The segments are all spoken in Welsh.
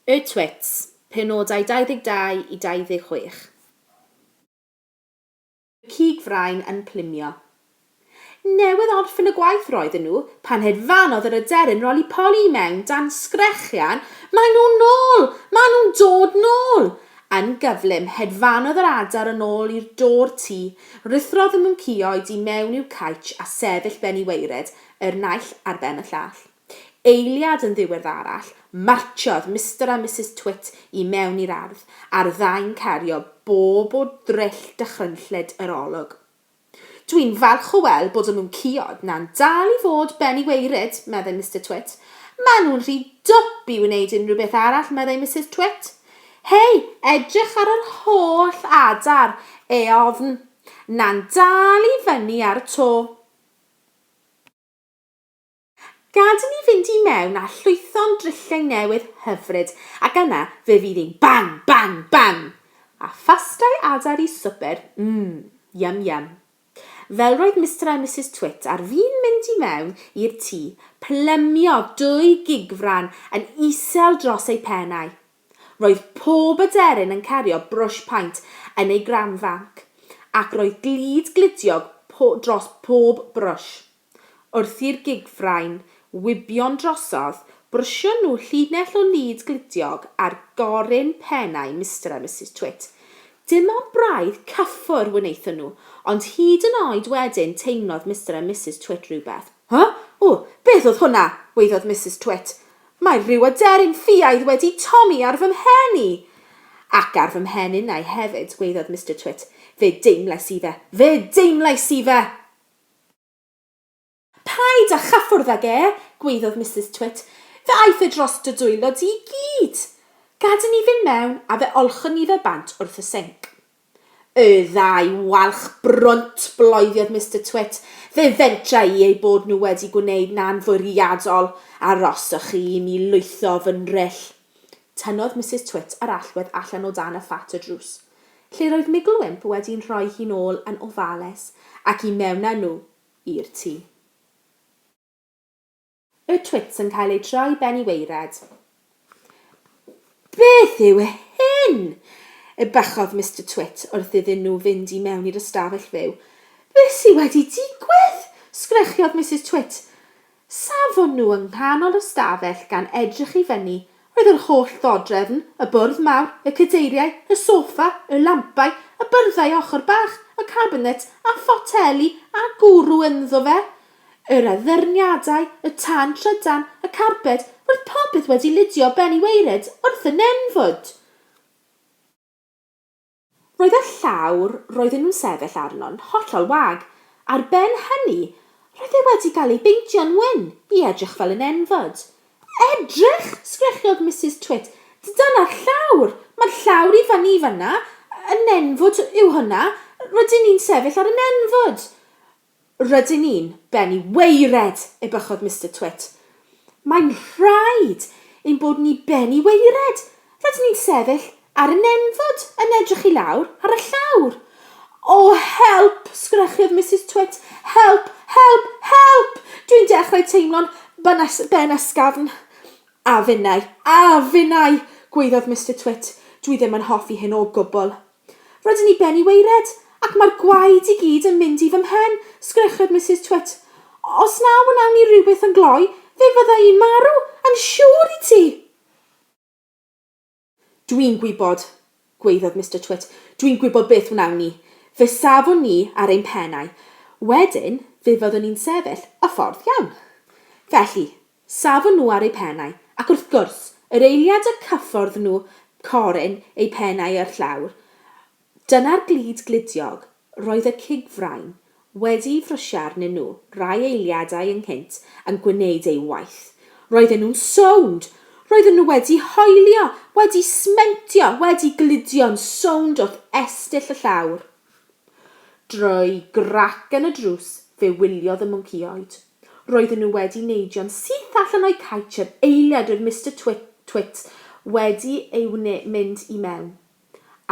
Y Twits, penodau 22 i 26. Y cig frain yn plymio. Newydd orffen y gwaith roedden nhw pan hedfanodd yr aderyn roli poli i mewn dan sgrechian 'Maen nhw'n nôl! Maen nhw'n dod nôl! Yn gyflym, hedfanodd yr adar yn ôl i'r dôr tŷ, rhuthrodd y mwncïoed i mewn i'w caetsh a sefyll ben i waered, yr naill ar ben y llall. Eiliad yn ddiweddarach, martsiodd Mister a Misus Twit i mewn i'r ardd, a'r ddau'n cario bob o dryll dychrynllyd yr olwg. Dwi'n falch o weld bod y mwncïod 'na'n dal i fod ben i waered, meddai Mister Twit. Maen nhw'n rhy dwp i wneud unrhyw beth arall, meddai Misus Twit. Hei, edrych ar yr holl adar eofn 'na'n dal i fyny ar y to. Gad i ni fynd i mewn a llwytho'n drilliau newydd hyfryd, ac yna fe fydd hi'n bang, bang, bang! A phastai adar i swper, mm, yum, yum. Fel roedd Mister a Misus Twit ar fin mynd i mewn i'r tŷ, plymio dwy gigfran yn isel dros eu pennau. Roedd pob aderyn yn cario brwsh paent yn ei granfanc, ac roedd glud gludiog po dros bob brwsh. Wrth i'r gigfrain wibio'n drosodd, brwshon nhw llinell o lud gludiog ar goryn pennau Mister a Misus Twit. Dim ond braidd cyffwr wnaethon nhw, ond hyd yn oed wedyn teimlodd Mister a Misus Twit rhywbeth. Huh? Ww, beth oedd hwnna? waeddodd Misus Twit. Mae rhyw aderyn ffiaidd wedi tomi ar fy mhen i! Ac ar fy mhen innau hefyd, gwaeddodd Mister Twit. Fe deimlais i fe! Fe deimlais i fe! Paid â chyffwrdd ag e! gwaeddodd Misus Twit. Fe aeth e dros dy dwylo di i gyd! Gad i ni fynd mewn a fe olchwn ni fe bant wrth y sinc. Y ddau walch brwnt, bloediodd Mister Twit. Fe fedra i eu bod nhw wedi gwneud 'na'n fwriadol, aroswch chi i mi lwytho fy nhrell. Tynnodd Misus Twit yr allwedd allan o dan y ffat y drws, lle roedd Migl Wymp wedi'n rhoi hi'n ôl yn ofalus, ac i mewn â nhw i'r tŷ. Y twits yn cael eu troi ben i waered. Beth yw hyn? Ebychodd Mister Twit wrth iddyn nhw fynd i mewn i'r ystafell fyw. Beth sydd wedi digwydd? sgrechiodd Misus Twit. Safon nhw yng nghanol y stafell gan edrych i fyny. Roedd yr holl ddodrefn, y bwrdd mawr, y cadeiriau, y soffa, y lampau, y byrddau ochr bach, y cabinet, a photeli, a gwrw ynddo fe. Yr addurniadau, y tân trydan, y carbed, roedd popeth wedi lidio ben i waered wrth y nenfwd! Roedd y llawr roedden nhw'n sefyll arno'n hollol wag, ar ben hynny, roedd e wedi cael ei beintio'n wyn i edrych fel y nenfwd. Edrych! sgrechiodd Misus Twit. Dyna'r llawr! Mae'r llawr i fyny fan'na, y nenfwd yw hwnna, rydyn ni'n sefyll ar y nenfwd! Rydyn ni'n bennu weired! ebychodd Mister Twit. Mae'n rhaid ein bod ni bennu weired! Rydyn ni'n sefyll ar y nenfwd yn edrych i lawr ar y llawr. O, help! sgrechiod Misus Twit. Help! Help! Help! Dwi'n dechrau teimlo'n banas- ben ysgafn. A finnau! A finnau! gwaeddodd Mister Twit. Dwi ddim yn hoffi hyn o gwbl. Rydyn ni ben i waered, ac mae'r gwaed i gyd yn mynd i fy mhen, sgrechiod Misus Twit. Os na wnawn ni rywbeth yn gloi, fe fydda i'n marw, yn siŵr i ti! Dwi'n gwybod, gwaeddodd Mister Twit, dwi'n gwybod beth wnawn ni. Fe safwn ni ar ein pennau. Wedyn, fe fyddwn ni'n sefyll y ffordd iawn. Felly, Safon nhw ar eu pennau, ac wrth gwrs, yr eiliad y cyffordd nhw coryn eu pennau â'r llawr, dyna'r glud gludiog, roedd y cig frain wedi'i frysio arnyn nhw rai eiliadau ynghynt yn gwneud ei waith. Roedden nhw'n sownd! Roedden nhw wedi hoelio, wedi smentio, wedi gludio'n sownd wrth estyll y llawr. Drwy grac yn y drws fe wyliodd y mwncïoed. Roedden nhw wedi neidio'n syth allan o'u caets yr eiliad oedd Mister Twit, Twit wedi ei wne mynd i mewn,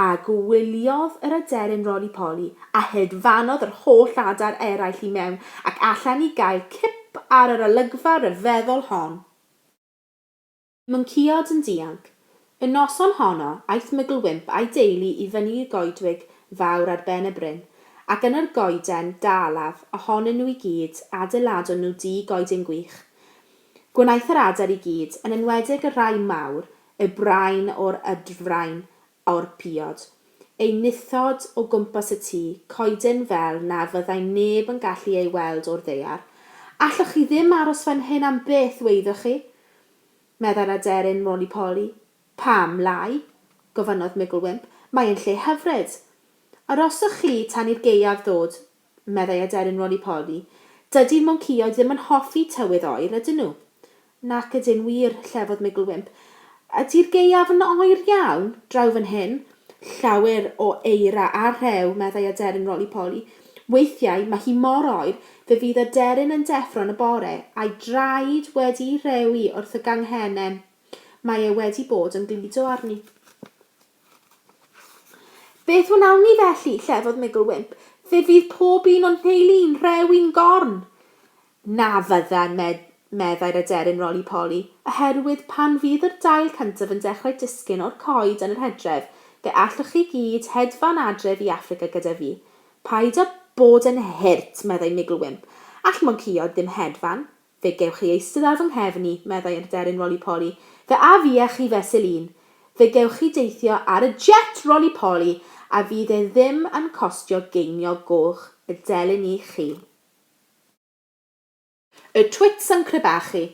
a gwyliodd yr aderyn Roli Poli, a hedfanodd yr holl adar eraill i mewn ac allan i gael cip ar yr olygfa ryfeddol hon. Mwnceod yn dianc. Y noson honno, aeth Mygl-wymp a'i deulu i fyny i goedwig fawr ar ben y bryn, ac yn yr goeden dalaf ohonyn nhw i gyd, adeiladon nhw dŷ goeden gwych. Gwnaeth yr adar i gyd, yn enwedig y rhai mawr, eu brain o'r ydfrain, o'r piod, ei nithod o gwmpas y tŷ coeden fel na fyddai neb yn gallu ei weld o'r ddaear. Allwch chi ddim aros fan hyn am byth, weiddoch chi? meddai'r aderyn Roly-Poly. Pam, Lai? gofynnodd Mugglewymp. Mae'n lle hyfryd. Aroswch chi tan i'r gaeaf ddod, meddai aderyn Roly-Poly. Dydy'r mwncaeoedd ddim yn hoffi tywydd oer, ydyn nhw? Nac ydyn, wir, llefodd Migglewymp. Ydy'r gaeaf yn oer iawn, draw fan hyn? Llawer o eira a rhew, meddai aderyn Roly-Poly. Weithiau, mae hi mor oer, fe fydd aderyn yn deffro yn y bore, a'i draed wedi'i rewi wrth y ganghenen. Mae e wedi bod yn gludo arni. Beth wnawn ni felly? llefodd Migl Wymp. Fe fydd pob un o'n nheulu i'n rhewi'n gorn! Na fyddan, meddai'r aderyn Roli-Poli, oherwydd pan fydd yr dail cyntaf yn dechrau disgyn o'r coed yn yr hydref, fe allwch chi gyd hedfan adref i Affrica gyda fi. Paid â bod yn hurt, meddai Migl Wymp. All mwncaeod ddim hedfan. Fe gewch chi eistedd ar fy nghefn i, meddai yr aderyn roli-poli. Fe af fi â chi fesul un. Fe gewch chi deithio ar y jet roli-poli a fydd e ddim yn costio geiniog goch y delyn i chi. Y Twits yn crebachu.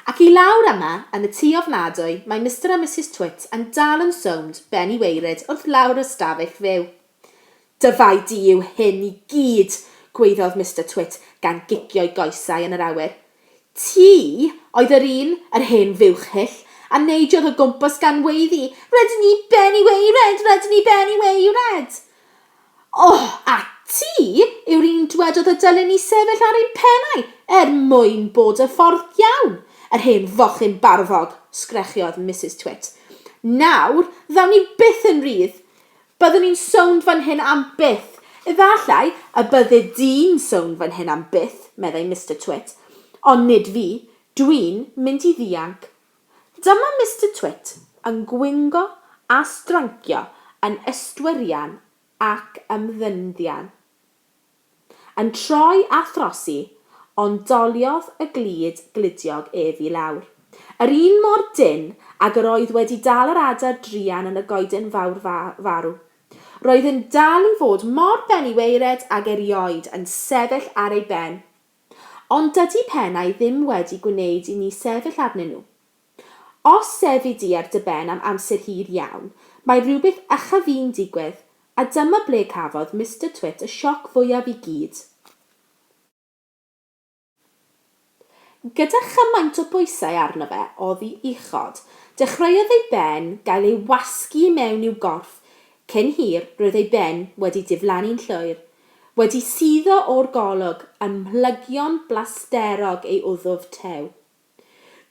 Ac i lawr yma, yn y tŷ ofnadwy, mae Mister a Misus Twit yn dal yn sownd ben i waered wrth lawr y stafell fyw. Dyfai di yw hyn i gyd, gwaeddodd Mister Twit gan gicio'i goesau yn yr awyr. Ti oedd yr un, yr hen fuwch hyll, a neidiodd o gwmpas gan weiddi, 'Rydyn ni ben i waered! Rydyn ni ben i waered! O, a ti yw'r un dwedodd y dylem ni sefyll ar ein pennau er mwyn bod y ffordd iawn, yr hen fochyn barddog! sgrechiodd Misus Twit. Nawr, ddaw ni byth yn rhydd! Byddwn i'n sownd fan hyn am byth. Efallai y bydde di'n sownd fan hyn am byth, meddai Mister Twit. Ond nid fi. Dwi'n mynd i ddianc. Dyma Mister Twit yn gwingo a strancio yn ystwyrian ac ymddynddian. Yn troi a throsi, ond doliodd y glud gludiog ef i lawr. Yr un mor dynn ag yr oedd wedi dal yr adar druan yn y goeden fawr farw. Roedd yn dal i fod mor beniweirad ag erioed yn sefyll ar ei ben. Ond dydy pennau ddim wedi gwneud i ni sefyll arnyn nhw. Os sefyd di ar dy ben am amser hir iawn, mae rhywbeth uchaf fu'n digwydd, a dyma ble cafodd Mister Twit y sioc fwyaf i gyd. Gyda chymaint o bwysau arno fe oddi uchod, dechreuodd ei ben gael ei wasgu i mewn i'w gorff, cyn hir roedd ei ben wedi diflannu'n llwyr, wedi suddo o'r golwg, ym mhlygion blasterog ei wddf tew.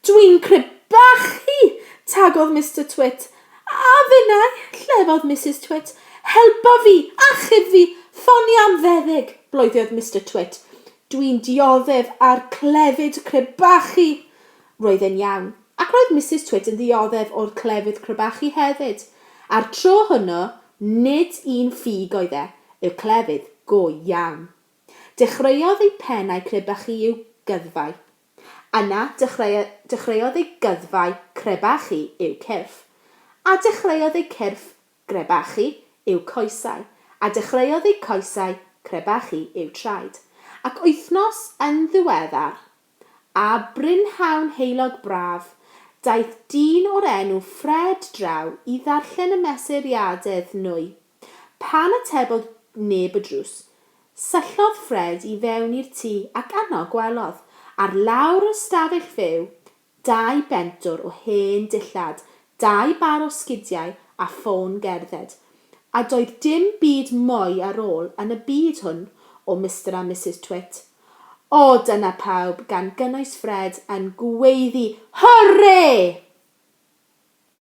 Dwi'n crebachu! tagodd Mister Twit. A finnau! llefodd Misus Twit. Helpa fi! Achub fi! Ffonio am feddyg! bloeddodd Mister Twit. Dwi'n dioddef a'r clefyd crebachu! Roedd e'n iawn. Ac roedd Misus Twit yn ddioddef o'r clefyd crebachu hefyd. A'r tro hwnnw, nid un ffug oedd e, y clefyd go iawn. Dechreuodd ei pen a'i chrebachu i'w gyddfau. Yna dechreuodd ei gyddfau crebachu i'w cyrff, a dechreuodd ei cyrff grebachu i'w coesau, a dechreuodd ei coesau crebachu i'w traed. Ac wythnos yn ddiweddar, a brynhawn heulog braf, daeth dyn o'r enw Fred draw i ddarllen y mesuriadedd nwy Pan atebodd neb y drws, syllodd Ffred i fewn i'r tŷ ac yno gwelodd, ar lawr y stafell fyw, dau bentwr o hen dillad, dau bar o sgidiau a ffôn gerdded. A doedd dim byd mwy ar ôl yn y byd hwn o Mister a Misus Twit. O, dyna pawb, gan gynnwys Ffred, yn gweiddi, Hwrê!